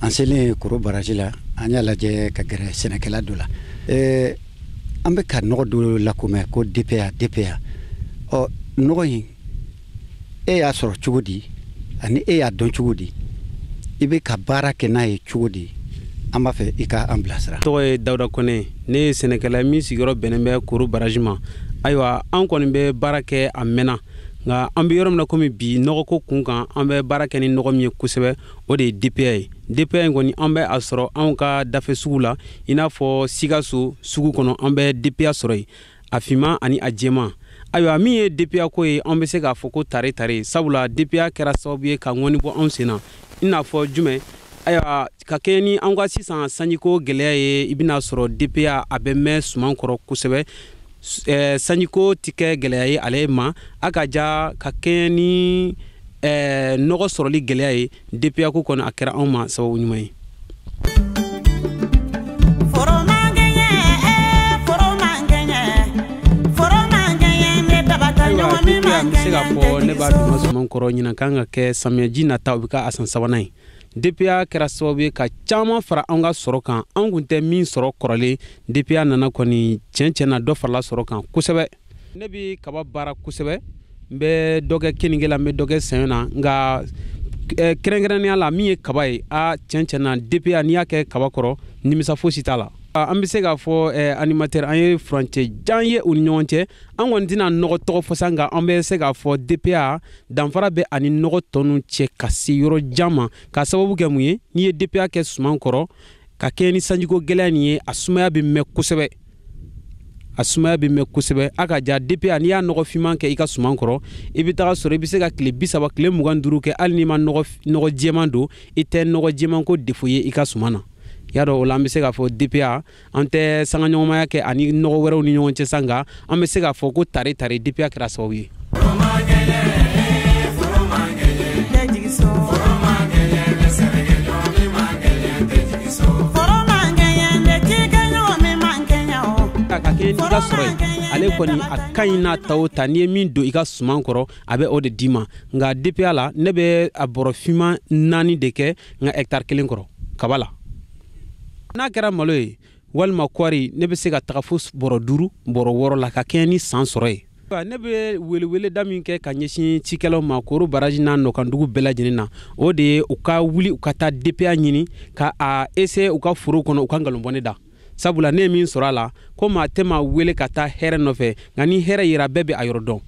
an selen koro baraji la an y'a lajɛ ka gɛrɛ sɛnɛkɛla dɔ la eh, an bɛ ka nɔgɔ dɔ lakomɛ ko dpa dpa ɔ nɔgɔ in e y'a sɔrɔ cogo di ani e y'a dɔn cogo di i bɛ ka baara kɛ n'a ye cogo di an b'a fɛ i ka an bilasira tɔgɔ ye dawuda kɔnɛ ne ye sɛnɛkɛla min sigiyɔrɔ bɛnnen bɛ koro baraji ma ayiwa an kɔni bɛ baara kɛ a mɛnna nka an bɛ yɔrɔ min na komi bi nɔgɔko kun kan an bɛ baara kɛ ni nɔgɔ min ye kosɛbɛ o de ye dpa ye dpa in kɔni an bɛ a sɔrɔ anw ka dafɛ sugu la i n'a fɔ sikaso sugu kɔnɔ an bɛ dpa sɔrɔ yen a finman ani a jɛman ayiwa min ye dpa ko ye an bɛ se k'a fɔ ko tare tare sabula dpa kɛra sababu ye ka ŋɔni bɔ anw sen na i n'a fɔ jumɛn ayiwa ka kɛɲɛ ni an ka sisan sanjiko gɛlɛya ye i bɛna sɔrɔ dpa a bɛ mɛn suman kɔrɔ kosɛbɛ eh, sanjiko tɛ kɛ gɛlɛya ye ale ma a ka ja ka kɛɲɛ ni eh, nɔgɔ sɔrɔli gɛlɛya ye dpa ko kɔni a kɛra anw ma sababu ɲuman ye dpa an bɛ se k'a fɔ ne b'a don suman kɔrɔ ɲinan kan ka kɛ samiyaji nata o bɛ ka a san sabanan ye DPA kɛra sababu ye ka caman fara an ka sɔrɔ kan an kun tɛ min sɔrɔ kɔrɔlen DPA nana kɔni tiɲɛ tiɲɛ na dɔ farala sɔrɔ kan kosɛbɛ ne bɛ kaba baara kosɛbɛ n bɛ dɔ kɛ keninge la n bɛ dɔ kɛ saɲɔ na nka eh, kɛrɛnkɛrɛnnenya la min ye kaba ye a tiɲɛ tiɲɛ na DPA n'i y'a kɛ kaba kɔrɔ nimisa fosi t'a la ah, an bɛ se k'a fɔ eh, animateur an ye furancɛ jan ye u ni ɲɔgɔn cɛ an kɔni tɛna nɔgɔ tɔgɔ fɔ sa nka an bɛ se k'a fɔ DPA danfara bɛ ani nɔgɔ tɔnu cɛ ka se yɔrɔ jan ma k'a sababu kɛ mun ye n'i ye dpa kɛ suman kɔrɔ ka kɛɲɛ ni sanjiko gɛlɛya nin ye a sumaya bɛ mɛn kosɛbɛ a sumaya bɛ mɛn kosɛbɛ a ka ja dpa n'i y'a nɔgɔ finman kɛ i ka suman kɔrɔ i bɛ taga sɔrɔ i bɛ se ka tile bisaba tile mugan duuru kɛ hali n'i ma nɔgɔ jɛman don i tɛ nɔgɔ jɛmanko défaut ye i ka suman na y'a dɔn o la an bɛ se k'a fɔ dpa an tɛ sangaɲɔgɔnmaya kɛ ani nɔgɔ wɛrɛw ni ɲɔgɔn cɛ sa nka an bɛ se k'a fɔ ko tare tare dpa kɛra sababu ye ka kɛɲɛ n'i ka sɔrɔ ye ale kɔni a ka ɲi n'a ta o ta n'i ye min don i ka suman kɔrɔ a bɛ o de d'i ma nka dpa la ne bɛ a bɔrɔ finman naani de kɛ n ka hɛkitari kelen kɔrɔ kaba la n'a kɛra malo ye walima kɔɔri ne bɛ se ka taga fo bɔrɔ duuru bɔrɔ wɔɔrɔ la ka kɛɲɛ ni san sɔrɔ ye ne bɛ weleweleda min kɛ ka ɲɛsin cikɛlaw ma koro baraji n'a nɔkandugu bɛɛ lajɛlen na o de ye u ka wuli u ka taa dpa ɲini ka a essayer u ka foro kɔnɔ u ka nkalon bɔ ne da sabula ne ye min sɔrɔ a la ko maa tɛ maa wele ka taa hɛrɛ nɔfɛ nka ni hɛrɛ yera bɛɛ bɛ a yɔrɔ dɔn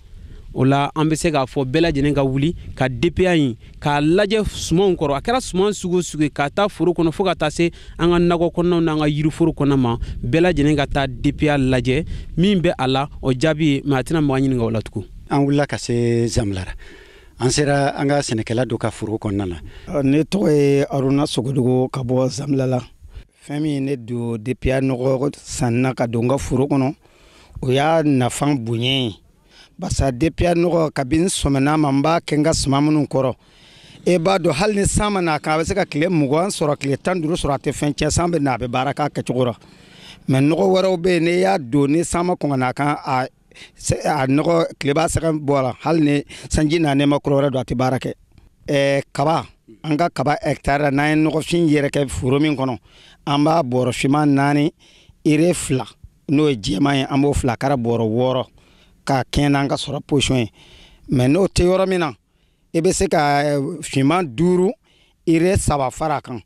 o la an bɛ se k'a fɔ bɛɛ lajɛlen ka wuli ka dpa ɲi k'a lajɛ sumanw kɔrɔ a kɛra suman sugu sugu ye k'a ta foro kɔnɔ fo ka taa se an ka nakɔ kɔnɔnaw n'an ka yiriforo kɔnɔ ma bɛɛ lajɛlen ka taa dpa lajɛ min bɛ a la o jaabi ye maa tɛna mɔgɔ ɲininka o la tugun an wulila ka se zamilara an sera an ka sɛnɛkɛla dɔ ka foro kɔnɔna na ah, ne tɔgɔ ye aruna sogodogo ka bɔ zamilara fɛn min ne don dpa nɔgɔ san na ka don n ka foro kɔnɔ o y'a nafa bonya ye basa depiya nɔgɔ kabini sɔmɛna ma n b'a kɛ n ka suman minnu kɔrɔ e b'a dɔn hali ni san ma na a kan a bɛ se ka tile mugan sɔrɔ tile tan duuru sɔrɔ a tɛ fɛn tiɲɛ san bɛ na a bɛ baara k'a kɛcogo la mɛ nɔgɔ wɛrɛw bɛ yen n'i y'a don ni san ma kɔn ka na a kan a nɔgɔ tile b'a sɛgɛn bɔ a la hali ni sanji na n'i ma kɔrɔ wɛrɛ don a tɛ baara kɛ ɛɛ kaba an ka kaba hɛkitari la n'an ye nɔgɔfin yɛrɛkɛ foro min kɔnɔ an b'a bɔrɔ finman naani ire fila n'o ye jɛman ye an b'o fila k'a ra bɔrɔ wɔɔrɔ k'a kɛɲɛ n'an ka sɔrɔ position ye mɛ n'o tɛ yɔrɔ min na i bɛ se ka eh, finman duuru ire saba fara a kan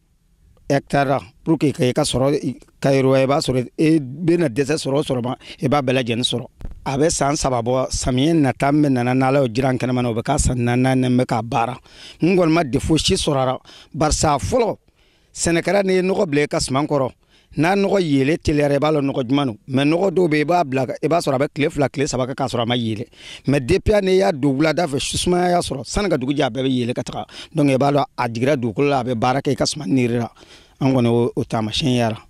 hɛkitari la pour que i ka sɔrɔ ka yiriwa i b'a sɔrɔ i bɛna dɛsɛ sɔrɔ o sɔrɔ ma i b'a bɛɛ lajɛlen sɔrɔ a bɛ san saba bɔ samiyɛ nata min bɛna na n'ala y'o jira an kɛnɛman na o bɛ k'a san naani n'an bɛ k'a baara n kɔni ma defo si sɔrɔ a la barisa fɔlɔ sɛnɛkɛla n'i ye nɔgɔ bila i ka suman kɔrɔ n'a nɔgɔ yeele teliyara i b'a lɔn nɔgɔ juman don mɛ nɔgɔ dɔw bɛ yen i b'a bila i b'a sɔrɔ a bɛ tile fila tile saba kɛ k'a sɔrɔ a ma yeele mɛ depiya n'i y'a don wulada fɛ su sumaya y'a sɔrɔ sani ka dugu jɛ a bɛɛ bɛ yeele ka taga donc i b'a lɔn a jigira dugukolo la a bɛ baara kɛ i ka suman niri la an kɔni o taamasiyɛn y'a la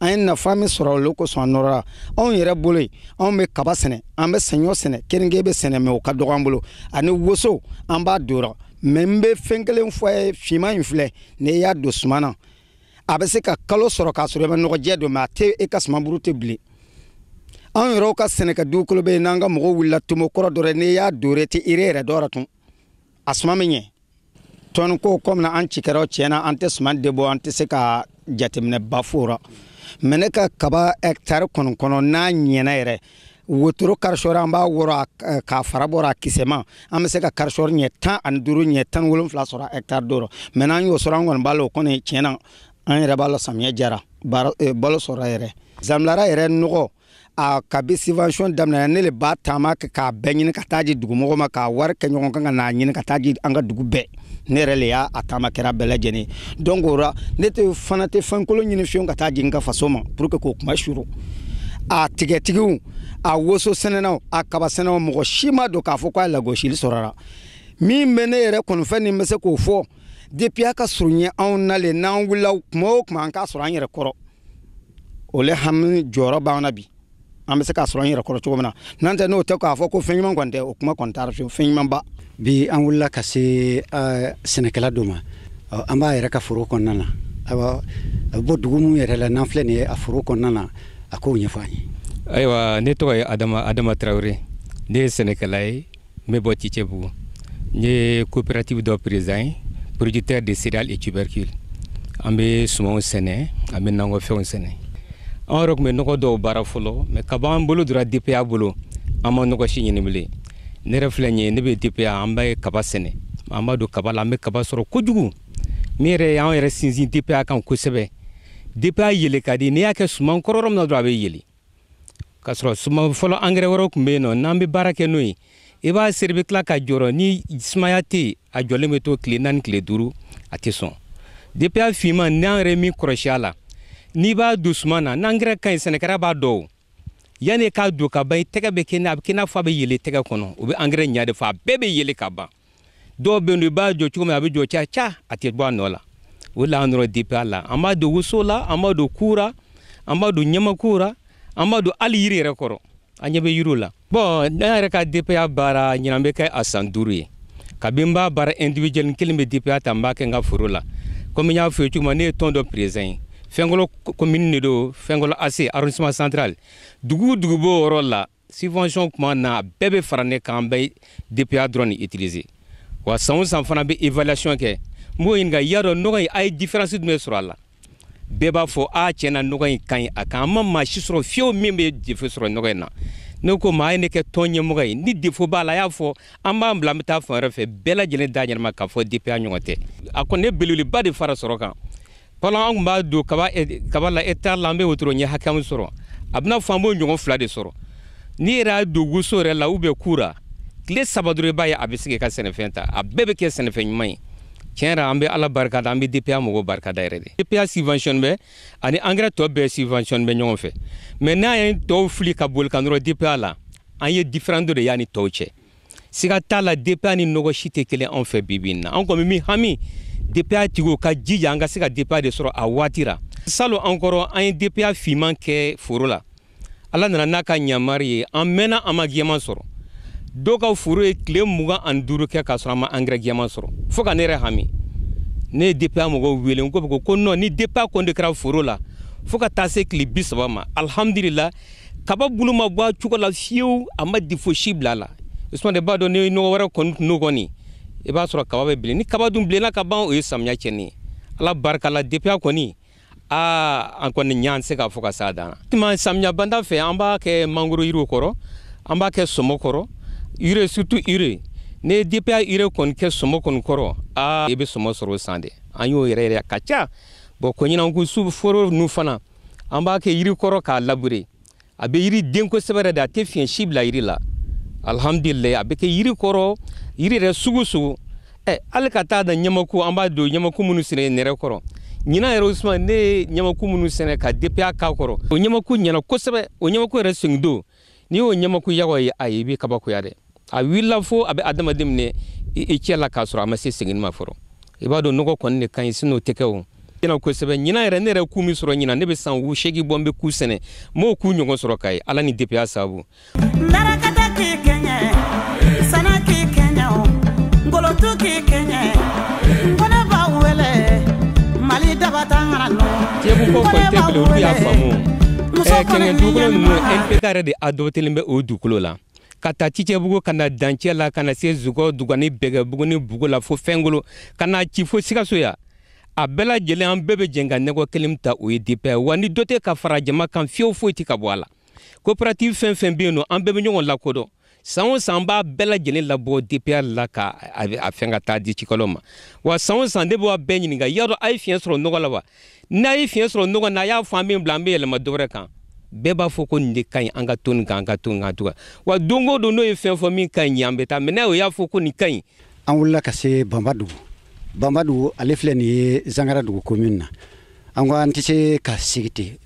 an ye nafa min sɔrɔ o le kosɔn an nɔrɔla anw yɛrɛ bolo yen anw bɛ kaba sɛnɛ an bɛ saɲɔ sɛnɛ keninke bɛ sɛnɛ mɛ o ka dɔgɔ an bolo ani woso an b'a don o ra mɛ n bɛ fɛn kelen fɔ a ye finman in filɛ n'i y'a don suman na a bɛ se ka kalo sɔrɔ k'a sɔrɔ i ma nɔgɔjɛ don mɛ a tɛ e ka sumanburu tɛ bilen anw yɛrɛw ka sɛnɛkɛ dugukolo bɛ yen n'an ka mɔgɔw wulila tomo kɔrɔ don n'i y'a don o ra e tɛ ire yɛrɛ don tugun a suman bɛ ɲɛ tɔni ko kɔmi an cikɛlaw tiɲɛ na an tɛ suman de bɔ an tɛ se ka jateminɛba fɔ o ra mɛ ne ka kaba hɛkitari kɔni kɔnɔ n'a ɲɛna yɛrɛ wotoro karisɔri an b'a wɔrɔ k'a fara bɔ a ra a kisɛma an bɛ se ka karisɔri ɲɛ tan ani duuru ɲɛ tan wolonfila sɔrɔ hɛkitari dɔ rɔ mɛ n'an y'o sɔrɔ an kɔni b'a la o kɔni tiɲɛ na an yɛrɛ b'a la samiyɛ jara balo sɔrɔra yɛrɛ zamilara yɛrɛ nɔgɔ a kabi subvention daminɛ ne le b'a taama kɛ k'a bɛɛ ɲini ka taa di dugumɔgɔw ma k'a wari kɛ ɲɔgɔn kan ka n'a ɲini ka taa di an ka dugu bɛɛ ne yɛrɛ le y'a a taama kɛra bɛɛ lajɛlen donc o ra ne tɛ fana tɛ fɛn kolon ɲini fiyewu ka taa di n ka faso ma pour que k'o kuma suru a tigatigiw a woso sɛnɛnaw a kaba sɛnɛnaw mɔgɔ si ma don k'a fɔ k'a lagosili sɔrɔra min bɛ ne yɛrɛ kɔni fɛ ne bɛ se k'o fɔ depiya ka surun anw na le n'an wulila kuma o kuma an k'a sɔrɔ an yɛrɛ kɔrɔ o le hami jɔrɔ b'an na bi an bɛ se k'a sɔrɔ an yɛrɛ kɔrɔ cogo min na n'an tɛ n'o tɛ k'a fɔ ko fɛn ɲuman kɔni tɛ o kuma kɔni t'a ra fiyewu fɛn ɲuman ba bi an wulila ka se sɛnɛkɛla dɔ ma an b'a yɛrɛ ka foro kɔnɔna na ayiwa a bɛ bɔ dugu min yɛrɛ la n'an filɛ nin ye a foro kɔnɔna na a k'o ɲɛfɔ an ye ayiwa ne tɔgɔ ye adama tarawele ne ye sɛnɛkɛla ye n bɛ bɔ Cicɛbugu n ye coopérative dɔ président ye producteur de céréales et tubercules an bɛ sumanw sɛnɛ an bɛ nakɔfɛnw sɛnɛ an yɛrɛ tun bɛ nɔgɔ dɔw baara fɔlɔ mais kab'an bolo dora DPA bolo an ma nɔgɔ si ɲini bilen ne yɛrɛ filɛ nin ye ne bɛ DPA an bɛ kaba sɛnɛ an b'a don kaba la an bɛ kaba sɔrɔ kojugu min yɛrɛ y'an yɛrɛ sinsin DPA kan kosɛbɛ DPA yeele ka di n'i y'a kɛ suman kɔrɔ yɔrɔ min na dɔrɔn a bɛ yeele k'a sɔrɔ suman fɔlɔ angɛrɛ wɛrɛw tun bɛ yen nɔ n'an bɛ baara kɛ n'o ye i b'a seri i bɛ tila ka jɔrɔ ni sumaya tɛ yen a jɔlen bɛ to tile naani tile duuru a tɛ sɔn DPA finman n'an yɛrɛ min kɔlɔsi a la n'i b'a don suman na n'angɛrɛ ka ɲi sɛnɛkɛla b'a dɔn o yann'i k'a don ka ban i tɛgɛ bɛ kɛ a bɛ kɛ i n'a fɔ a bɛ yeele i tɛgɛ kɔnɔ o bɛ angɛrɛ ɲɛ de fɔ a bɛɛ bɛ yeele ka ban dɔw bɛ yen i b'a jɔ cogo min a bɛ jɔ ca ca a tɛ bɔ a nɔ la o la an nɔrɔ DPA la an b'a don woso la an b'a don ku ra an b'a don ɲamaku la an b'a don hali yiri yɛrɛ kɔrɔ an ɲɛ bɛ yiriw la bon ne yɛrɛ ka DPA baara ɲinan bɛ kɛ a san duuru ye kabi n b'a baara individuel kelen bɛ DPA ta n b'a kɛ n ka foro la komi n y'a fɔ i ye cogo min ne ye tɔn dɔ président ye Finkolo commune de don Finkolo AC arrondissement central dugu o dugu b'o yɔrɔ la subvention kuma na a bɛɛ bɛ fara ne kan an bɛ DPA dɔrɔn de utiliser wa san o san fana n bɛ évaluation kɛ n b'o ɲininka i y'a dɔn nɔgɔ in a ye différence jumɛn sɔrɔ a la bɛɛ b'a fɔ a tiɲɛ na nɔgɔ in ka ɲi a kan an ma maa si sɔrɔ fiyewu min bɛ défaut sɔrɔ nɔgɔ in na ne ko u ma a ye ne kɛ tɔn ɲɛmɔgɔ ye ni défaut b'a la a y'a fɔ an b'a bila an bɛ taa fan wɛrɛ fɛ bɛɛ lajɛlen da ɲɛnama k'a fɔ DPA ɲɔgɔn tɛ a kɔni ye belebeleba de fara sɔrɔ kan fɔlɔ an tun b'a don kaba eh, kaba la hectare la an bɛ wotoro ɲɛ hakɛ min sɔrɔ a b'i n'a fɔ an b'o ɲɔgɔn fila de sɔrɔ n'i yɛrɛ y'a don woso yɛrɛ la ou bien ku ra tile saba dɔrɔn i b'a ye a bɛ se k'i ka sɛnɛfɛn ta a bɛɛ bɛ kɛ sɛnɛfɛn ɲuman ye tiɲɛ yɛrɛ an bɛ ala barika da an bɛ DPA mɔgɔw barika da yɛrɛ de DPA subvention bɛ ani angɛrɛ tɔ bɛɛ subvention bɛ ɲɔgɔn fɛ mais n'an ye tɔw fili ka boli ka nɔrɔ DPA la an ye différence dɔ de y'a ni tɔw cɛ siga t'a la DPA ni nɔgɔ si tɛ kelen anw fɛ bi bi in na anw kɔni min hami DPA tigiw ka jija an ka se ka DPA de sɔrɔ a waati la salon an kɔrɔ an ye DPA finman kɛ foro la ala nana n'a ka ɲamari ye an mɛnna an ma gɛman sɔrɔ dɔw ka foro ye tile mugan ani duuru kɛ k'a sɔrɔ an ma angɛrɛ gɛman sɔrɔ fo ka ne yɛrɛ hami ne ye DPA mɔgɔw wele u ko ko non ni DPA kɔni de kɛra foro la fo ka taa se tile bi saba ma alihamudulila kaba bulu ma bɔ a cogo la fiyewu a ma défaut si bila a la usumani b'a dɔn ni nɔgɔ wɛrɛ kɔni tun n'o kɔni i b'a sɔrɔ kaba bɛ bilen ni kaba dun bilenna ka ban o ye samiya cɛnni ye ala barika la dpa kɔni aa an kɔni ɲa an tɛ se k'a fɔ ka s'a dan na samiya banda fɛ an b'a kɛ mangoro yiriw kɔrɔ an b'a kɛ sɔmɔ kɔrɔ urée surtout urée n'i ye dpa urée kɔni kɛ sɔmɔ kɔni kɔrɔ aa i bɛ sɔmɔ sɔrɔ o san de an y'o yɛrɛ yɛrɛ ka ca bɔn ko ɲinan ko su foro ninnu fana an b'a kɛ yiri kɔrɔ k'a labure a bɛ yiri den kosɛbɛ yɛrɛ de a tɛ fiɲɛ si bila yiri la alihamdulilayi a bɛ kɛ yiri kɔrɔ yiri yɛrɛ sugu sugu ɛ hali ka taa da ɲamaku an b'a don ɲamaku minnu sɛnɛ nɛrɛ kɔrɔ ɲinan yɛrɛ usuman ne ye ɲamaku minnu sɛnɛ ka dpa k'a kɔrɔ o ɲamaku ɲɛna kosɛbɛ o ɲamaku yɛrɛ sengidon n'i y'o ɲamaku yagɔ ye ayi i bɛ kabakoya dɛ a wulila fo a bɛ adamaden minɛ i cɛ la k'a sɔrɔ a ma se seginni ma fɔlɔ i b'a dɔn nɔgɔ kɔni de ka ɲi sinon o tɛ kɛ o ɲɛna kosɛbɛ ɲinan yɛrɛ ne yɛrɛ ku min sɔrɔ ɲinan ne bɛ san seegin bɔ n bɛ ku sɛnɛ n m'o ku ɲɔgɔn sɔrɔ ka ye ala ni dpa sababu sɛnɛ k'i kɛɲɛ o ngolotu k'i kɛɲɛ nkone b'a wele mali dabatangana nɔ Tiɲɛko fɔ kɔni tɛ bilen olu y'a faamu muso Eh, kɔni kɛnɛ ni dugukolo ninnu ɲɛnama npk yɛrɛ de adoptélen bɛ o dugukolo la ka ta cicɛbugu ka na dancɛ la ka na se zugɔ dugani bɛgɛbugu ni bugu la fo finkolo ka na ci fo sikaso yan a bɛɛ lajɛlen an bɛɛ bɛ jɛn ka nɔgɔ kelen ta o ye dpa wa ni dɔ tɛ ka fara jama kan fiyewu foyi tɛ ka bɔ a la coopérative fɛn fɛn bɛ yen nɔ an bɛɛ bɛ ɲɔgɔn lakodɔn san o san b'a bɛɛ lajɛlen labɔ dpa la ka a fɛn ka taa di cikɛlaw ma wa san o san de b'a bɛɛ ɲininka y'a dɔn a ye fiɲɛ sɔrɔ nɔgɔ la wa n'a ye fiɲɛ sɔrɔ nɔgɔ na a y'a fɔ an b'a bila an bɛ yɛlɛma dɔwɛrɛ kan bɛɛ b'a fɔ ko nin de ka ɲi an ka to nin kan an ka to nin kan tugun wa don o don n'o ye fɛn fɔ min ka ɲi an b'a ta mais n'a o y'a fɔ ko nin ka ɲi an wulila ka se banbadugu banbadugu ale filɛ nin ye zangaradugu komin na an ko an tɛ se ka sigi ten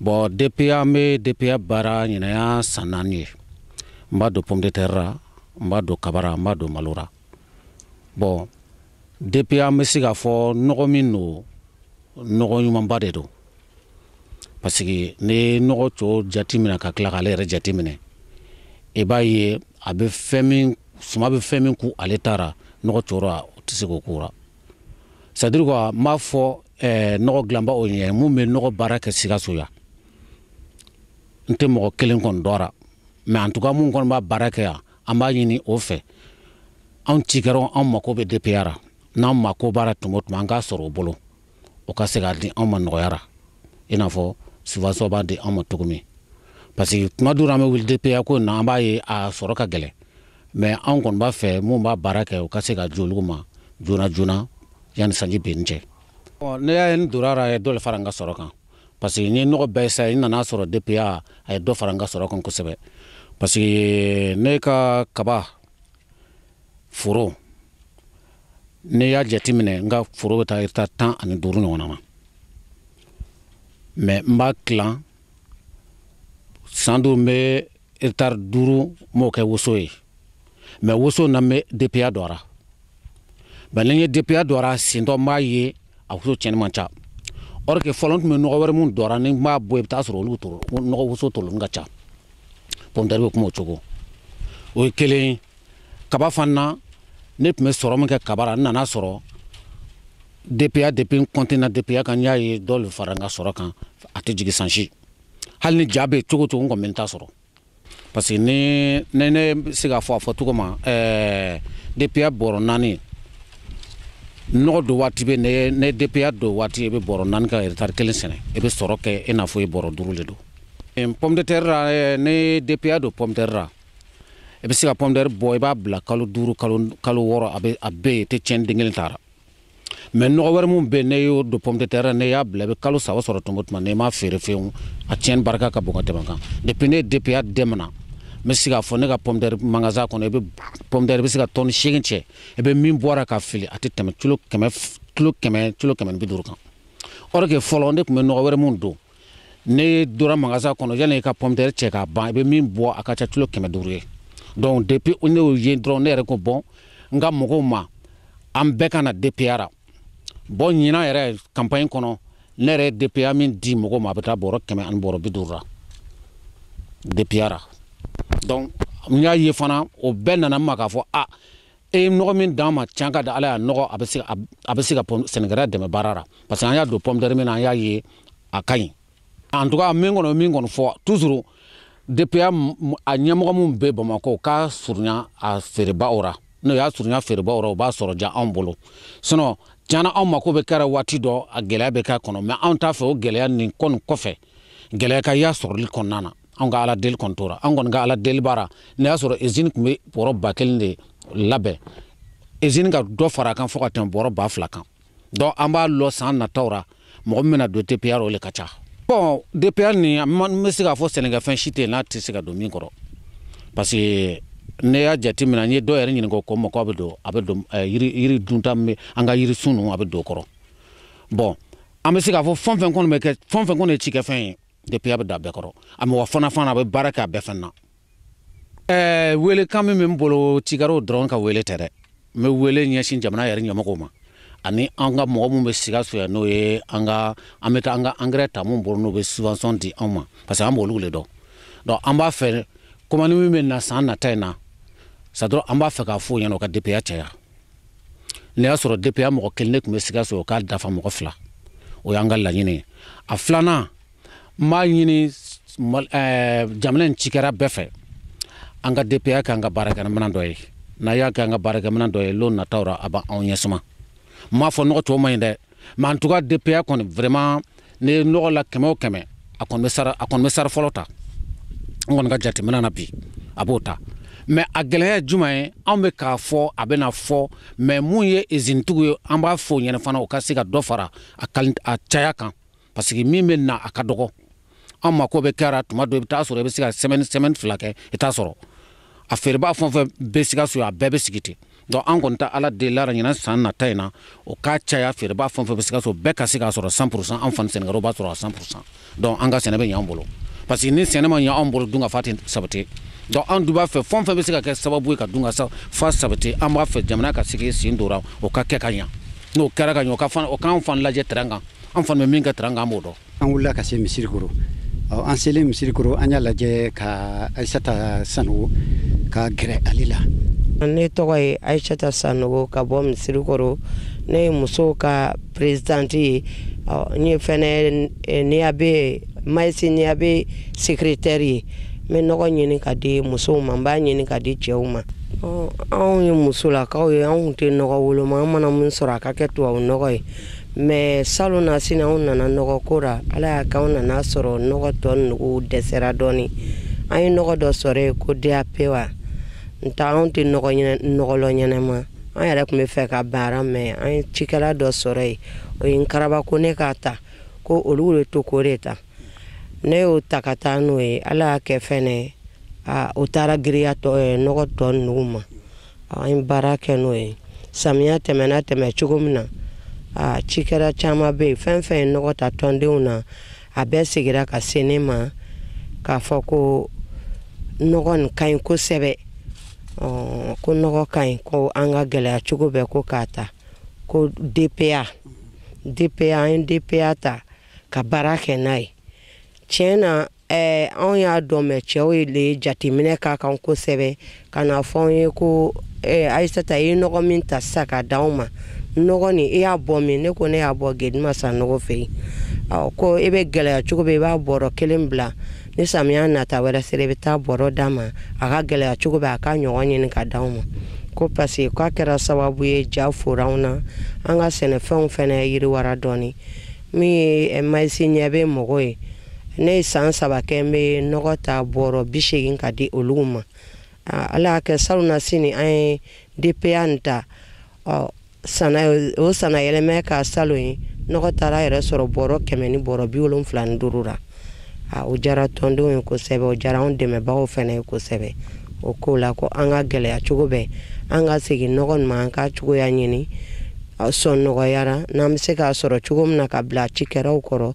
bɔn dpa an be dpa baara ɲinan y'a san naani ye n b'a don pomme de terre ra n b'a don kaba ra n b'a don malo ra bɔn dpa an be se k'a fɔ nɔgɔ min don nɔgɔ ɲumanba de don parce que n'i ye nɔgɔ tɔ jateminɛ ka tila k'ale yɛrɛ jateminɛ i b'a ye a be fɛn min suma be fɛn min ku ale ta ra nɔgɔ tɔ ra o tɛ se k'o k'o ra c'est-à-dire quoi n b'a fɔ eh, nɔgɔ dilanbaw ɲɛ mun bɛ nɔgɔ baara kɛ sikaso yan n tɛ mɔgɔ kelen kɔni dɔn ra mais en tout cas mun kɔni b'a baara kɛ yan an b'a ɲini o fɛ anw cikɛlaw anw mako bɛ dpa ra n'an mako b'a ra tuma o tuma an k'a sɔrɔ o bolo o ka se k'a di anw ma nɔgɔya ra i n'a fɔ subvention b'a di anw ma cogo min parce que tuma dɔw an bɛ wuli dpa ko in na an b'a ye a sɔrɔ ka gɛlɛn mais an kɔni b'a fɛ minnu b'a baara kɛ u ka se ka di olu ma joona joona yanni sanji benni cɛ ne y'a ye n donna ra a ye dɔ le fara n ka sɔrɔ kan parce que n ye nɔgɔ bɛɛ san n nana sɔrɔ DPA a ye dɔ fara n ka sɔrɔ kan kosɛbɛ parce que ne ka kaba foro ne y'a jate minɛ n ka foro bɛ taa hectare tan ani duuru ɲɔgɔnna ma mais n b'a tilan san dɔw n bɛ hectare duuru n b'o kɛ woso ye mais woso na n bɛ DPA don a ra mais ni n ye DPA don a ra sentɔ n b'a ye a woso tiɲɛni man ca or que fɔlɔ n tun bɛ nɔgɔ wɛrɛ min don a ra ni n b'a bɔ i bɛ taa sɔrɔ olu to nɔgɔ woso tolen ka ca pomme de terre bɛ kuma o cogo o ye kelen ye kaba fana na ne tun bɛ sɔrɔ min kɛ kaba ra n nana sɔrɔ DPA depuis n continue DPA kan n y'a ye dɔ le fara n ka sɔrɔ kan a tɛ jigin san si hali ni ja bɛ cogo cogo n kɔni bɛ n ta sɔrɔ parce que ni ne ne bɛ se k'a fɔ a fɔ cogo ma ɛɛ DPA bɔrɔ naani nɔgɔ don waati bɛ n'i ye DPA don waati i bɛ bɔrɔ naani ka hectare kelen sɛnɛ i bɛ sɔrɔ kɛ i n'a fɔ i bɔrɔ duuru de don pomme de terre ra eh, n'i ye DPA don pomme de terre ra i bɛ se ka pomme de terre bɔ i b'a bila kalo duuru kalo kalo wɔɔrɔ a bɛ a bɛɛ tɛ tiɲɛ den kelen t'a ra mais nɔgɔ wɛrɛ min bɛ n'i y'o don pomme de terre n'i y'a bila i bɛ kalo saba sɔrɔ tuma o tuma n'i m'a feere fewu a tiɲɛni barika ka bon ka tɛmɛ kan depuis ne ye DPA daminɛ n bɛ se k'a fɔ ne ka pomme de terre magasin kɔnɔ i bɛ pomme de terre i bɛ se ka tɔni seegin cɛ i bɛ min bɔ a ra k'a fili a tɛ tɛmɛ kilo kɛmɛ ni bi duuru kan or que fɔlɔ ne tun bɛ nɔgɔ wɛrɛ min don ne y'o don a ra magasin kɔnɔ yanni i ka pomme de terre cɛ k'a ban i bɛ min bɔ a ka ca kilo kɛmɛ duuru ye donc depuis ne y'o ye dɔrɔn ne yɛrɛ ko bon n ka mɔgɔw ma an bɛɛ ka na DPA ra bon ɲinan yɛrɛ campagne kɔnɔ ne yɛrɛ ye DPA min di mɔgɔw ma a bɛ taa bɔrɔ kɛmɛ ani bɔrɔ bi duuru ra DPA ra donc n y'a ye fana o bɛɛ nana n ma k'a fɔ a ah, e ye nɔgɔ min d'an ma tiɲɛ ka di ala ye a nɔgɔ a bɛ se ka sɛnɛkɛla dɛmɛ baara ra parce que an y'a don pomme de terre min na an y'a ye a ka ɲi en tout cas min kɔnɔ min kɔni fɔ toujours DPA a ɲɛmɔgɔ min bɛ Bamakɔ k'a surunya a feerebaaw ra n'o y'a surunya feerebaaw ra o b'a sɔrɔ diya anw bolo sinon tiɲɛ na anw mako bɛ kɛ a ra waati dɔ a gɛlɛya bɛ k'a kɔnɔ mais anw t'a fɛ o gɛlɛya nin kɔni kɔfɛ gɛlɛya ka y'a sɔrɔli kɔnɔna na an ka ala deli kɔni tora an kɔni ka ala deli b'a ra n'i y'a sɔrɔ usine tun bɛ bɔrɔ ba kelen de labɛn usine ka dɔ fara a kan fo ka tɛmɛ bɔrɔ ba fila kan donc an b'a lɔ san nataw ra mɔgɔ min bɛna don DPA ra o le ka ca bon DPA ni n bɛ se k'a fɔ sɛnɛkɛfɛn si tɛ yen n'a tɛ se ka don min kɔrɔ parce que ne y'a jate minɛ n ye dɔw yɛrɛ ɲininka o ko ma ko a bɛ don a bɛ don eh, yiri dunta an ka yirisun ninnu a bɛ don o kɔrɔ bon an bɛ se k'a fɔ fɛn fɛn kɔni bɛ kɛ fɛn fɛn kɔni ye cikɛfɛn ye DPA bɛ da a bɛɛ kɔrɔ a mɔgɔ fana fana a bɛ baara kɛ a bɛɛ fɛn na ɛɛ weelekan min bɛ n bolo cikɛraw dɔrɔn ka weele tɛ dɛ n bɛ weele ɲɛsin jamana yɛrɛ ɲɛmɔgɔw ma ani an ka mɔgɔ min bɛ sikaso yan n'o ye an ka an bɛ taa an ka angɛrɛ ta mun bolo n'o bɛ subvention di anw ma parce que an b'olu de dɔn donc an b'a fɛ komandi min bɛ na san nata in na sa dɔrɔn an b'a fɛ k'a fɔ o ɲɛna o ka DPA caya ne y'a sɔrɔ DPA mɔgɔ kelen ne tun bɛ sikaso o k'a dafa mɔgɔ fila o y'an ka laɲini ye a filanan n b'a ɲini eh, jamana in cikɛra bɛɛ fɛ an ka DPA kɛ an ka baarakɛminɛn dɔ ye n'a y'a kɛ an ka baarakɛminɛn dɔ ye lon nataw ra a b'anw ɲɛsuma n m'a fɔ nɔgɔ tɔw man ɲi dɛ mais en tout cas DPA kɔni vraiment ne ye nɔgɔ la kɛmɛ o kɛmɛ a kɔni bɛ sara a kɔni bɛ sara fɔlɔ ta n kɔni ka jateminɛ na bi a b'o ta mais a gɛlɛya ye juma ye anw bɛ k'a fɔ a bɛna fɔ mais mun ye izinitigiw ye an b'a fɔ o ɲɛna fana u ka se ka dɔ fara a caya kan parce que min bɛ na a ka dɔgɔ an mako bɛ kɛra tuma dɔ i bɛ taa sɔrɔ i bɛ se ka sɛmɛni sɛmɛni fila kɛ i t'a sɔrɔ a feerebaa fɛn o fɛn bɛ sikaso a bɛɛ bɛ sigi ten donc an kɔni ta ala deli la ɲinan san nata in na o k'a caya feerebaa fɛn o fɛn bɛ sikaso bɛɛ ka se k'a sɔrɔ 100 pourcent an fana sɛnɛkɛlaw b'a sɔrɔ a 100 pourcent donc an ka sɛnɛ bɛ ɲɛ an bolo parce que ni sɛnɛ ma ɲɛ an bolo dunkafa tɛ sabati donc an dun b'a fɛ fɛn o fɛn bɛ se ka kɛ sababu ye ka dunkafa sabati an b'a fɛ jamana ka sigi sen d'o ra o ka kɛ ka ɲɛ n'o kɛra ka ɲɛ o k'an fana lajɛ terrain kan an fana bɛ min kɛ terrain kan an b'o dɔn an wulila ka se misirikoro an selen misirikoro an y'a lajɛ ka ayisata sanogo ka gɛrɛ ale la ne tɔgɔ ye ayisata sanogo ka bɔ misirikoro ne ye musow ka perezidante ye n ye fɛnɛ eh, niyabe mayisi niyabe sekiretɛri ye n bɛ nɔgɔ ɲini ka di musow ma n b'a ɲini ka di cɛw ma anw ye musolakaw ye anw tɛ nɔgɔ woloma an mana min sɔrɔ a ka kɛ tubabu nɔgɔ ye mais salonnasini anw nana nɔgɔ ko ra ala y'a kɛ anw nana sɔrɔ nɔgɔ tɔ nugu dɛsɛra dɔɔni an ye nɔgɔ dɔ sɔrɔ yen ko DAP wa nta anw tɛ nɔgɔ lɔn ɲɛnɛma an yɛrɛ tun b'a fɛ ka ban a ra mais an ye cikɛla dɔ sɔrɔ yen o ye n karaba ko ne k'a ta ko olu bɛ to k'o de ta ne y'o ta ka taa n'o ye ala y'a kɛ fɛnɛ o taara giriya tɔ nɔgɔ tɔ nugu ma An ye baara kɛ n'o ye samiya tɛmɛna tɛmɛ cogo min na aa cikɛra caman bɛ yen fɛn fɛn ye nɔgɔ ta tɔndenw na a bɛɛ segira ka se ne ma k'a fɔ ko nɔgɔ nin ka ɲi kosɛbɛ ko nɔgɔ ka ɲi ko an ka gɛlɛya cogo bɛɛ ko k'a ta ko DPA DPA an ye DPA ta ka baara kɛ n'a ye tiɲɛ na ɛɛ anw y'a dɔn mɛ cɛw ye le jateminɛ k'a kan kosɛbɛ ka na fɔ anw ye ko ɛɛ ayisata i ye nɔgɔ min ta sisan ka di anw ma nɔgɔ nin i y'a bɔ min ne ko ne y'a bɔ gedima sanɔgɔ fɛ yen ɔ ko i bɛ gɛlɛya cogo bɛɛ i b'a bɔrɔ kelen bila ni samiya nata wɛrɛ sera i bɛ taa bɔrɔ d'a ma a ka gɛlɛya cogo bɛɛ a ka ɲɔgɔn ɲini ka di anw ma ko paseke k'a kɛra sababu ye ja fora anw na an ka sɛnɛfɛnw fɛnɛ yiriwara dɔɔnin min ye eh, mayisi ɲɛ bɛ mɔgɔ ye ne ye san saba kɛ n bɛ nɔgɔ ta bɔrɔ bi seegin ka di olu ma ala y'a kɛ salonnasini an ye dpa nin ta o sana yɛlɛmɛ ka salon ye nɔgɔ taara yɛrɛ sɔrɔ bɔrɔ kɛmɛ ni bɔrɔ bi wolonfila ni duuru ra o jara tɔndenw ye kosɛbɛ o jara anw dɛmɛbagaw fɛnɛ ye kosɛbɛ o ko la ko an ka gɛlɛya cogo bɛɛ an ka segin nɔgɔ nin ma an ka cogoya ɲini sɔn nɔgɔya ra n'an bɛ se k'a sɔrɔ cogo min na ka bila cikɛlaw kɔrɔ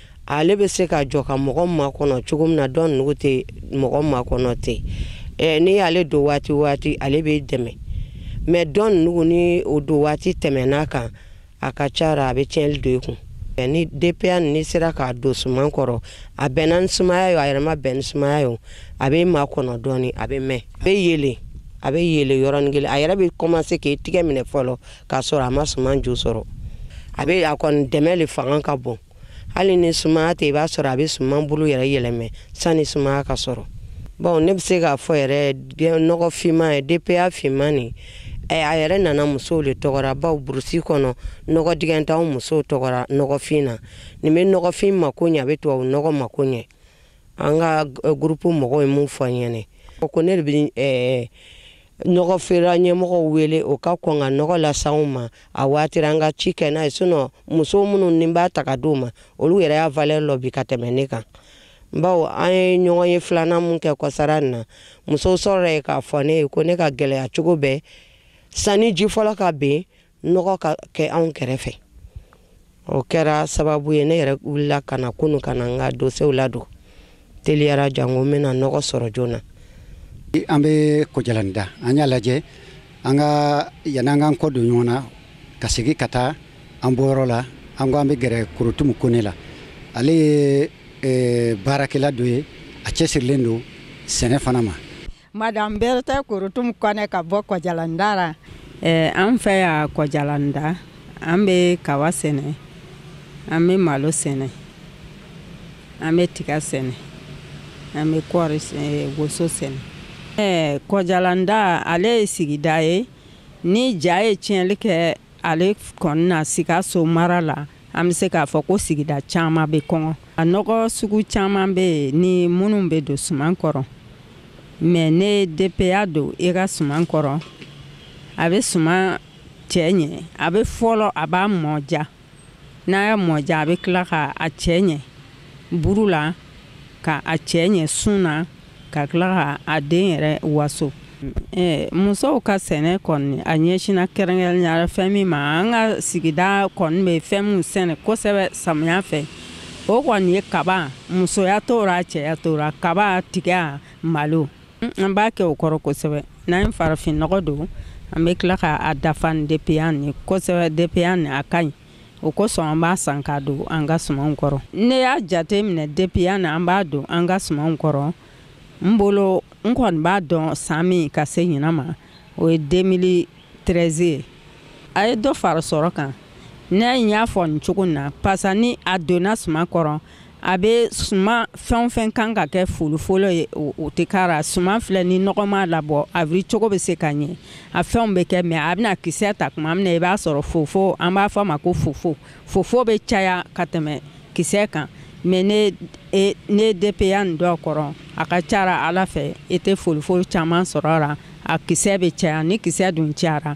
ale bɛ se ka jɔ ka mɔgɔ makɔnɔ cogo min na dɔn nugu tɛ mɔgɔ makɔnɔ ten n'i y'ale don waati waati ale bɛ dɛmɛ mɛ dɔn nugu ni o don waati tɛmɛn'a kan a ka ca a bɛ tiɲɛli don i kun ni dpa nin sera k'a don suman kɔrɔ a bɛnna ni sumaya ye a yɛrɛ ma bɛn ni sumaya ye a bɛ makɔnɔ dɔɔnin a bɛ mɛn a bɛ yelen a bɛ yelen yɔrɔnin kelen a yɛrɛ bɛ kɔmanse k'i tɛgɛ minɛ fɔlɔ k'a sɔrɔ a ma suman ju sɔrɔ a bɛ a kɔni dɛmɛ de fanga ka bon hali ni sumaya tɛ i b'a sɔrɔ a bɛ suman bolo yɛrɛ yɛlɛmɛ sani sumaya ka sɔrɔ bon ne bɛ se k'a fɔ yɛrɛ nɔgɔ finman ye DPA finman nin a yɛrɛ nana musow le tɔgɔ ra bawo burusi kɔnɔ nɔgɔ dingɛ t'anw musow tɔgɔ ra nɔgɔfin na nin bɛ nɔgɔfin mako ɲɛ a bɛ tubabu nɔgɔ mako ɲɛ an ka groupe mɔgɔw ye mun fɔ n ɲɛna ko ne de bɛ nɔgɔ feera ɲɛmɔgɔw wele o ka kɔn ka nɔgɔ las'anw ma a waati ra an ka ci kɛ n'a ye sinɔn muso minnu ne b'a ta ka d'o ma olu yɛrɛ y'a valeur lɔn bi ka tɛmɛ ne kan bawo an ye ɲɔgɔnye filanan min kɛ kɔsa ra nin na musow sɔrɔra yen k'a fɔ ne ye ko ne ka gɛlɛya cogo bɛɛ sanni ji fɔlɔ ka ben nɔgɔ ka kɛ anw kɛrɛfɛ o kɛra sababu ye ne yɛrɛ wulila ka na kunu ka na n ka dosew ladon teliya ra janko n bɛna nɔgɔ sɔrɔ joona an bɛ kɔjalanda an y'a lajɛ an ka yan'an k'an kɔ don ɲɔgɔn na ka segin ka taa an bɔyɔrɔ la an ko an bɛ gɛrɛ korotumu kone la ale ye eh, baarakɛla dɔ ye a cɛsirilen don sɛnɛ fana ma Madame Berthe Korotum Kone ka bɔ Kɔjalanda ra. Eh, an fɛ yan Kɔjalanda, an bɛ kawa sɛnɛ, an bɛ malo sɛnɛ, an bɛ tiga sɛnɛ, an bɛ kɔɔri eh, woso sɛnɛ. Eh, Kɔjalanda ale ye sigida ye ni ja ye tiɲɛli kɛ ale kɔni na Sikaso mara la. an bɛ se k'a fɔ ko sigida caman bɛ kɔngɔ a nɔgɔ sugu caman bɛ yen ni minnu bɛ don suman kɔrɔ mais n'i ye dpa don i ka suman kɔrɔ a bɛ suman cɛ ɲɛ a bɛ fɔlɔ a b'a mɔja n'a y'a mɔja a bɛ tila ka a cɛ ɲɛ buru la ka a cɛ ɲɛ sun na ka tila ka a den yɛrɛ waso musow ka sɛnɛ kɔni a ɲɛsina kɛrɛnkɛrɛnnenya fɛn min ma an ka sigida kɔni bɛ fɛn min sɛnɛ kosɛbɛ samiya fɛ o kɔni ye kaba musoya t'o ra cɛya t'o ra kaba tiga malo an b'a kɛ o kɔrɔ kosɛbɛ n'an ye farafinɔgɔ don an bɛ tila k'a dafa ni dpa ni kosɛbɛ dpa ni a ka ɲi o kosɔn an b'a san k'a don an ka sumanw kɔrɔ ne y'a jate minɛ dpa nin an b'a don an ka sumanw kɔrɔ n bolo n kɔni b'a dɔn san min ka se ɲinan ma o ye 2013 ye a ye dɔ fara sɔrɔ kan ne y'a fɔ nin cogo na parce que ni a donna suman kɔrɔ a bɛ suman fɛn o fɛn kan ka kɛ folofolo ye o tɛ k'a ra suman filɛ ni nɔgɔ m'a labɔ a wuli cogo bɛ se ka ɲɛ a fɛnw bɛ kɛ mais a bɛna kisɛ ta tuma min na i b'a sɔrɔ fofo an b'a fɔ a ma ko fofo fofo bɛ caya ka tɛmɛ kisɛ kan mais n'i e, n'i ye dpa nin don a kɔrɔ a ka c'a ra ala fɛ i tɛ folofolo caman sɔrɔ a la a kisɛ bɛ caya ni kisɛ dun cayara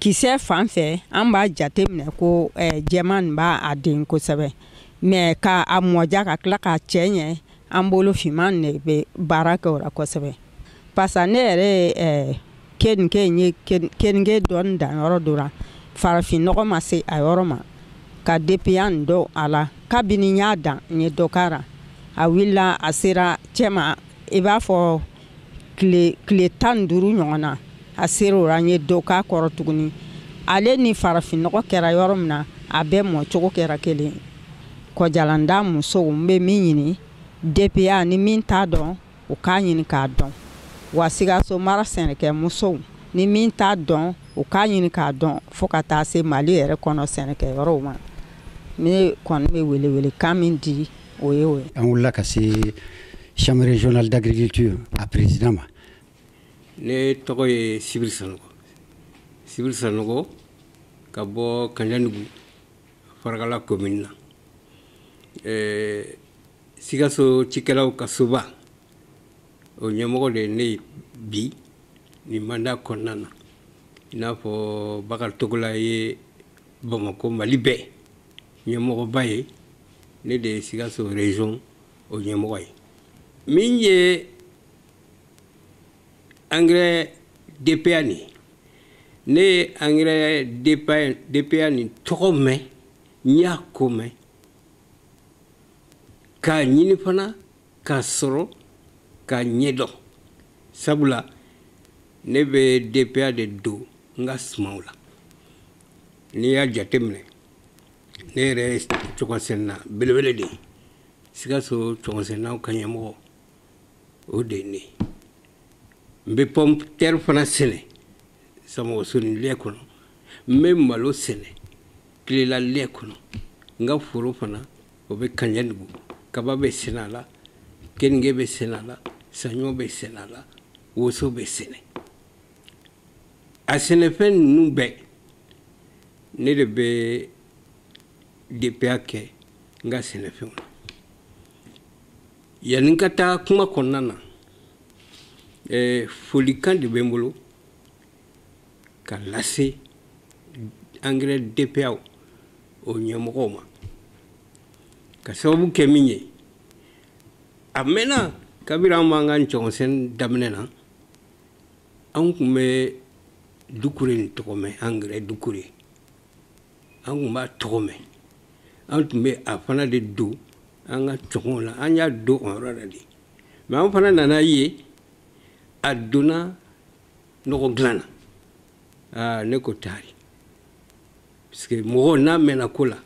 kisɛ fan fɛ an b'a jate minɛ ko eh, jɛman nin b'a den kosɛbɛ mais ka a mɔja ka tila k'a cɛ ɲɛ an bolo finman de bɛ baara kɛ o la kosɛbɛ parce que ne yɛrɛ ye eh, keninge n ye keninge dɔɔni dan yɔrɔ dɔ la farafin nɔgɔ ma se a yɔrɔ ma ka dpa nin don a la kabini n y'a dan n ye dɔ k'a ra a wulila a sera cɛma i b'a fɔ tile tan duuru ɲɔgɔn na a sera o ra n ye dɔ k'a kɔrɔ tuguni ale ni farafinnɔgɔ kɛra yɔrɔ min na a bɛɛ mɔcogo kɛra kelen kɔjalanda musow n bɛ min ɲini dpa ni min t'a dɔn u k'a ɲini k'a dɔn wa sikaso mara sɛnɛkɛ musow ni min t'a dɔn u k'a ɲini k'a dɔn fo ka taa se mali yɛrɛ kɔnɔ sɛnɛkɛ yɔrɔw ma ne kɔni bɛ welewelekan min di o ye o ye an wulila ka se chambre régionale d'agriculture a président ma ne tɔgɔ ye sibiri sanogo sibiri sanogo ka bɔ kanjanugu farakala commune na eh, sikaso cikɛlaw ka soba o ɲɛmɔgɔ de ye ne ye bi nin mandat kɔnɔna na i n'a fɔ bakari togola ye bamakɔ mali bɛɛ ɲɛmɔgɔba ye ne de ye sikaso région o ɲɛmɔgɔ ye min ye engrais DPA nin ye ne ye engrais DPA nin tɔgɔ mɛn n y'a ko mɛn k'a ɲini fana k'a sɔrɔ k'a ɲɛdɔn sabula ne bɛ DPA de don n ka sumanw la n'i y'a jateminɛ ne yɛrɛ ye cɔgɔnsɛnɛna belebele de ye sikaso cɔgɔnsɛnɛnaw ka ɲɛmɔgɔ o de ye ne n bɛ pomme terre fana sɛnɛ samɔgɔsoni lɛ kɔnɔ n bɛ malo sɛnɛ kilela lɛ kɔnɔ n ka foro fana o bɛ kaɲɛdugu kaba bɛ sɛnɛ a la keninge bɛ sɛnɛ a la saɲɔ bɛ sɛnɛ a la woso bɛ sɛnɛ a sɛnɛfɛn ninnu bɛɛ ne de bɛ DPA kɛ n ka sɛnɛfɛnw na yanni n ka taa kuma kɔnɔna na eh, folikan de bɛ n bolo ka lase engrais DPA o ɲɛmɔgɔw ma ka sababu kɛ min ye a mɛnna kabiri an b'an ka cɔgɔnsɛnɛ daminɛ na an tun bɛ dukure nin tɔgɔ mɛn engrais dukure an tun b'a tɔgɔ mɛn an tun bɛ a fana de don an ka cɔgɔnw la an y'a don o yɔrɔ la de mais an fana nana ye a donna nɔgɔ dilan na aa ne ko taari parce que mɔgɔ n'a mɛnna ko la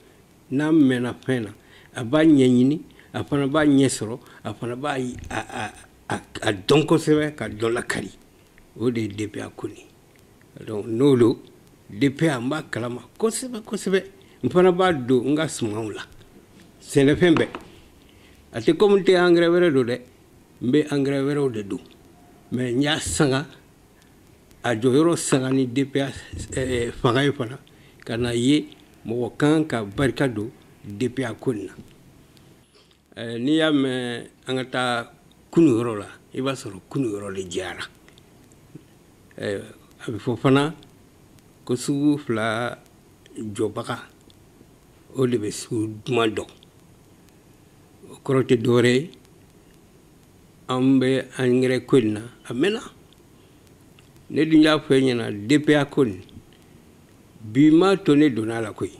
n'a mɛnna fɛn na a b'a ɲɛɲini a fana b'a ɲɛ sɔrɔ a fana b'a a dɔn kosɛbɛ ka dɔ lakari o de ye DPA ko nin donc n'o don DPA n b'a kalama kosɛbɛ kosɛbɛ n fana b'a don n ka sumanw la sɛnɛfɛn bɛɛ a tɛ komi n tɛ engrais wɛrɛ don dɛ n bɛ engrais wɛrɛw de don mais n y'a sanga a jɔyɔrɔ sanga ni DPA fanga ye fana ka na ye mɔgɔ kan ka barika don DPA ko nin na Eh, n'i y'a mɛn an ka taa kunu yɔrɔ la i b'a sɔrɔ kunu yɔrɔ de diyara eh, a bɛ fɔ fana ko sugu fila jɔbaga o de bɛ sugu duman dɔn o kɔrɔ tɛ dɔwɛrɛ ye an bɛ engrais ko in na a mɛnna ne dun y'a fɔ e ɲɛna DPA ko nin bi m'a to ne donna a la koyi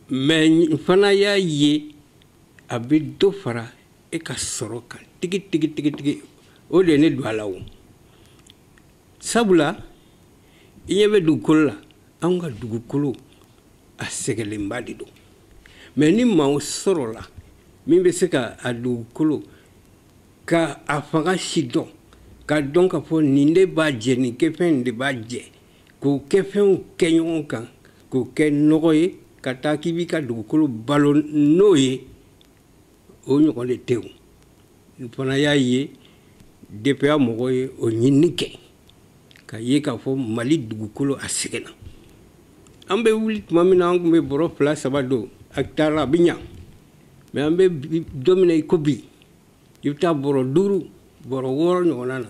mais n fana y'a ye a bɛ dɔ fara e ka sɔrɔ kan tigi tigi tigi tigi o de ye ne don a la o sabula i ɲɛ bɛ dugukolo la anw ka dugukolo a sɛgɛnlenba de don mais ni maaw sɔrɔla min bɛ se ka a dugukolo ka a fanga sidɔn ka dɔn k'a fɔ nin de b'a jɛ nin kɛfɛn de b'a jɛ k'o kɛfɛnw kɛ ɲɔgɔn kan k'o kɛ nɔgɔ ye ka taa k'i b'i ka dugukolo balo n'o ye o ɲɔgɔn de tɛ n fana y'a ye DPA mɔgɔw ye o ɲinini kɛ ka ye k'a fɔ mali dugukolo a sɛgɛnna an bɛ wuli tuma min na an tun bɛ bɔrɔ fila saba don hectare la a bɛ ɲa mais an bɛ don min na i ko bi i bɛ taa bɔrɔ duuru bɔrɔ wɔɔrɔ ɲɔgɔnna na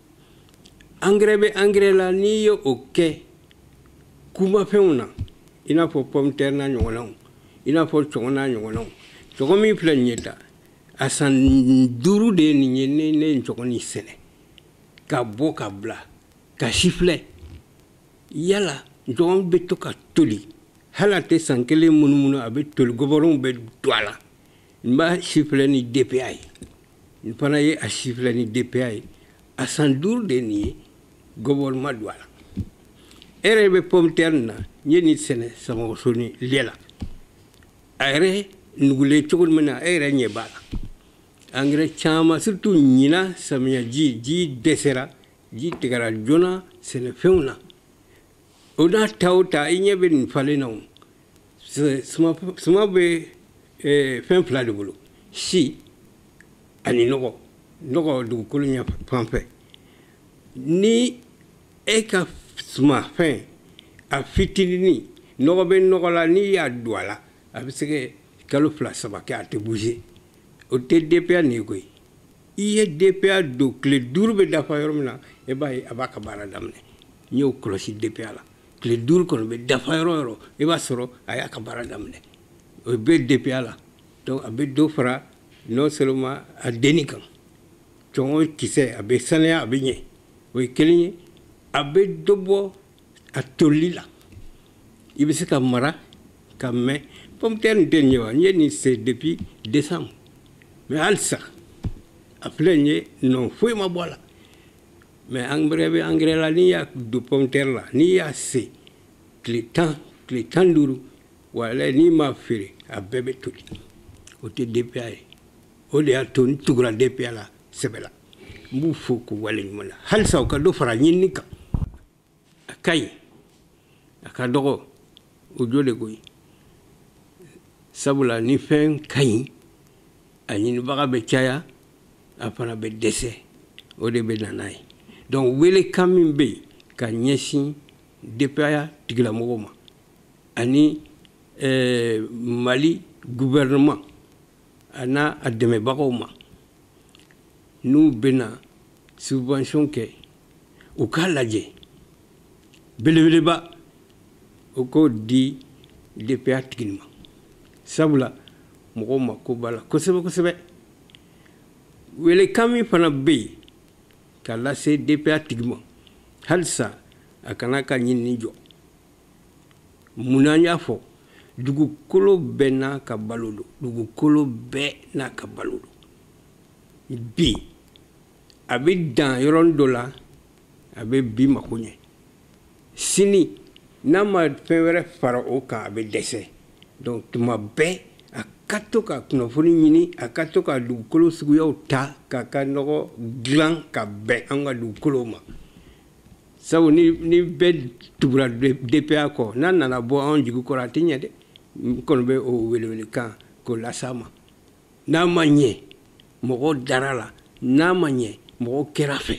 angɛrɛ bɛ angɛrɛ la n'i ye o kɛ kumafɛnw na i n'a fɔ pɔmutɛri n'a ɲɔgɔnnaw i n'a fɔ cɔgɔn n'a ɲɔgɔnnaw cɔgɔn min filɛ nin ye ta a san duuru de ye nin ye ne ne ye cɔgɔn nin sɛnɛ k'a bɔ k'a bila k'a sifilɛ yala cɔgɔn bɛ to ka toli hali a tɛ san kelen munumunu a bɛ toli gɔbɔrɔnw bɛ don a la n b'a sifilɛ ni DPA ye n fana ye a sifilɛ ni DPA ye a san duuru de ye nin ye gɔbɔrɔn ma don a la e yɛrɛ bɛ pɔmutɛri na n ye nin sɛnɛ samɔgɔsoni lɛ la a yɛrɛ nugulen cogo min na e yɛrɛ ɲɛ b'a la angɛrɛ caman surtout ɲina samiyaji ji dɛsɛra ji tigɛra joona sɛnɛfɛnw na o n'a ta o ta i ɲɛ bɛ nin falen na o suma bɛ ee, fɛn fila de bolo si ani nɔgɔ nɔgɔ dugukolo ɲɛ fan fɛ ni e ka sumanfɛn a fitinini nɔgɔ bɛ nɔgɔ la n'i y'a don a la a bɛ se ka kalo fila saba kɛ a tɛ bouger o tɛ DPA nin ye koyi i ye DPA don tile duuru bɛ dafa yɔrɔ min na e b'a ye a b'a ka baara daminɛ n y'o kɔlɔsi DPA la tile duuru kɔni bɛ dafa yɔrɔ o yɔrɔ i b'a sɔrɔ a y'a ka baara daminɛ o bɛ DPA la donc a bɛ dɔ fara non seulement a denni kan cɔngɔ kisɛ a bɛ saniya a bɛ ɲɛ o ye kelen ye a bɛ dɔ bɔ a toli la i bɛ se k'a mara ka mɛn pomme terre nin tɛ nin ye wa n ye nin sen depuis décembre mais halisa a filɛ nin ye nɔ foyi ma bɔ a la mais angɛrɛ bɛ angɛrɛ la n'i y'a don pomme terre la n'i y'a sen tile tan tile tan ni duuru wala n'i m'a feere a bɛɛ bɛ toli o tɛ DPA ye o de y'a to n tugura DPA la sɛbɛ la n b'u fo k'u waleɲuman na halisa u ka dɔ fara ɲinini kan a ka ɲi a ka dɔgɔ o jo de ko ye sabula ni fɛn ka ɲi a ɲinibaga bɛ caya a fana bɛ dɛsɛ o de bɛ na n'a ye donc welekan min bɛ yen ka ɲɛsin DPA tigilamɔgɔw ma ani eh, mali gouvernement a n'a a dɛmɛbagaw ma n'u bɛna subvention kɛ u k'a lajɛ belebeleba o k'o di dpa tigi nin ma sabula mɔgɔw mako b'a la kosɛbɛ kosɛbɛ welekan min fana bɛ yen k'a lase dpa tigi ma halisa a kan'a ka ɲinini jɔ mun na n y'a fɔ dugukolo bɛɛ n'a ka balo don dugukolo bɛɛ n'a ka balo don bi a bɛ dan yɔrɔnin dɔ la a bɛ bi mako ɲɛ sini n'a ma fɛn wɛrɛ fara o kan a bɛ dɛsɛ donc tuma bɛɛ a ka to ka kunnafoni ɲini a ka to ka dugukolo suguyaw ta k'a ka nɔgɔ dilan ka bɛn an ka dugukolow ma sabu ni bɛɛ tugura dpa kɔ n'a nana bɔ anw jigi kɔrɔ a tɛ ɲɛ dɛ n kɔni bɛ o welewelekan k'o las'a ma n'a ma ɲɛ mɔgɔ dar'a la n'a ma ɲɛ mɔgɔ kɛr'a fɛ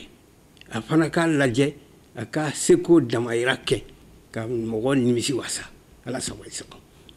a fana k'a lajɛ a ka seko damayira kɛ ka mɔgɔ nimisi wasa ala sago i sago